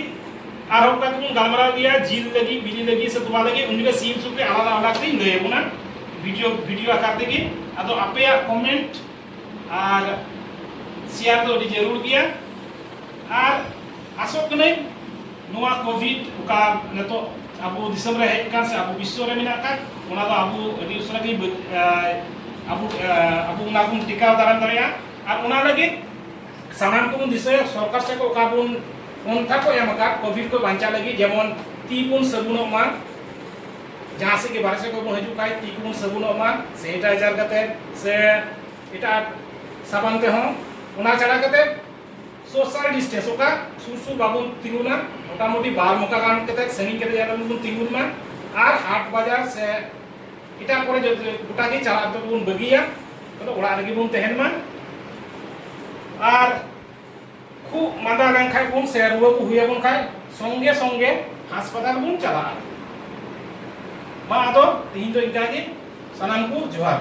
ᱟᱨᱦᱚᱸ ᱚᱱᱠᱟ ᱛᱮᱵᱚᱱ ᱜᱟᱞᱢᱟᱨᱟᱣ ᱜᱮᱭᱟ ᱡᱤᱞ ᱞᱟᱹᱜᱤᱫ ᱵᱤᱞᱤ ᱞᱟᱹᱜᱤᱫ ᱥᱮ ᱛᱚᱣᱟ ᱞᱟᱹᱜᱤᱫ ᱩᱱ ᱡᱚᱠᱷᱚᱱ ᱥᱤᱢ ᱥᱩᱠᱨᱤ ᱟᱞᱟᱫᱟ ᱟᱞᱟᱫᱟ ᱛᱮᱧ ᱞᱟᱹᱭ ᱟᱵᱚᱱᱟ ᱵᱷᱤᱰᱤᱭᱳ ᱵᱷᱤᱰᱤᱭᱳ ᱟᱠᱟᱨ ᱛᱮᱜᱮ ᱟᱫᱚ ᱟᱯᱮᱭᱟᱜ ᱠᱚᱢᱮᱱᱴ ᱟᱨ ᱥᱮᱭᱟᱨ ᱫᱚ ᱟᱹᱰᱤ ᱡᱟᱹᱨᱩᱲ ᱜᱮᱭᱟ ᱟᱨ ᱟᱥᱚᱜ ᱠᱟᱹᱱᱟᱹᱧ ᱱᱚᱣᱟ ᱠᱳᱵᱷᱤᱰ ᱚᱠᱟ ᱱᱤᱛᱚᱜ ᱟᱵᱚ ᱫᱤᱥᱚᱢ ᱨᱮ ᱦᱮᱡ ᱟᱠᱟᱱ ᱥᱮ ᱟᱵᱚ ᱵᱤᱥᱥᱚ ᱨᱮ ᱢᱮᱱᱟᱜ ᱟᱠᱟᱫ ᱚᱱᱟ ᱫᱚ ᱟᱵᱚ ᱟᱹᱰᱤ ᱩᱥᱟᱹᱨᱟ ᱜᱮ ᱟᱵᱚ ᱟᱵᱚ ᱚᱱᱟ ᱵᱚᱱ ᱴᱮᱠᱟᱣ ᱫᱟᱨᱟᱢ ᱫᱟᱲᱮᱭᱟᱜᱼᱟ ᱟᱨ ᱚᱱᱟ ᱞᱟᱹᱜᱤᱫ ᱥᱟᱱᱟᱢ ᱠᱚᱵᱚᱱ ᱫᱤᱥᱟᱹᱭᱟ ᱥᱚᱨᱠᱟᱨ ᱥᱮᱫ ᱚᱠᱟ ᱵᱚᱱ ᱯᱚᱱᱛᱷᱟ ᱠᱚ ᱮᱢ ᱟᱠᱟᱫ ᱠᱳᱵᱷᱤᱰ ᱠᱚ ᱵᱟᱧᱪᱟᱣ ᱞᱟᱹᱜᱤᱫ ᱡᱮᱢᱚᱱ ᱛᱤ ᱵᱚᱱ ᱥᱟᱹᱵᱩᱱᱚᱜ ᱢᱟ ᱡᱟᱦᱟᱸ ᱥᱮᱫ ᱜᱮ ᱵᱟᱨᱦᱮ ᱥᱮᱫ ᱠᱷᱚᱱ ᱵᱚᱱ ᱦᱤᱡᱩᱜ ᱠᱷᱟᱱ ᱛᱤ ᱠᱚᱵᱚᱱ ᱥᱟᱹᱵᱩᱱᱚᱜ ᱢᱟ ᱥᱮᱱᱤᱴᱟᱭᱡᱟᱨ ᱠᱟᱛᱮ ᱥᱮ ᱮᱴᱟᱜ ᱥᱟᱵᱟᱱ ᱛᱮᱦᱚᱸ ᱚᱱᱟ ᱪᱷᱟᱲᱟ ᱠᱟᱛᱮ ᱥᱳᱥᱟᱞ ᱰᱤᱥᱴᱮᱱᱥ ᱚᱠᱟ ᱥᱩᱨ ᱥᱩᱨ ᱵᱟᱵᱚᱱ ᱛᱤᱸᱜᱩᱱᱟ ᱢᱚᱴᱟᱢᱩᱴᱤ ᱵᱟᱨ ᱢᱚᱠᱟ ᱜᱟᱱ ᱠᱟᱛᱮ ᱥᱟᱺᱜᱤᱧ ᱠᱟᱛᱮ ᱡᱟᱦᱟᱸ ᱵᱚᱱ ᱛᱤᱸᱜᱩᱱ ᱢᱟ ᱟᱨ ᱦᱟᱴ ᱵᱟᱡᱟᱨ ᱥᱮ ᱮᱴᱟᱜ ᱠᱚᱨᱮ ᱜᱚᱴᱟ ᱜᱮ ᱪᱟᱞᱟᱜ ᱫᱚᱵᱚᱱ ᱵᱟᱹᱜᱤᱭᱟ ᱛᱟᱦᱞᱮ ᱚᱲᱟᱜ ᱨᱮᱜᱮ ᱵᱚᱱ ᱛᱟᱦᱮᱱ ᱢᱟ ᱟᱨ ᱠᱷᱩᱵ ᱢᱟᱸᱫᱟ ᱞᱮᱱᱠᱷᱟᱡ ᱵᱚᱱ ᱥᱮ ᱨᱩᱣᱟᱹ ᱠᱚ ᱦᱩᱭ ᱟᱵᱚᱱ ᱠᱷᱟᱡ ᱥᱚᱝᱜᱮ ᱥᱚᱝᱜᱮ ᱦᱟᱥᱯᱟᱛᱟᱞ ᱵᱚᱱ ᱪᱟᱞᱟᱜᱼᱟ ᱢᱟ ᱟᱫᱚ ᱛᱤᱦᱤᱧ ᱫᱚ ᱤᱱᱠᱟᱹ ᱜᱮ ᱥᱟᱱᱟᱢ ᱠᱚ ᱡᱚᱦᱟᱨ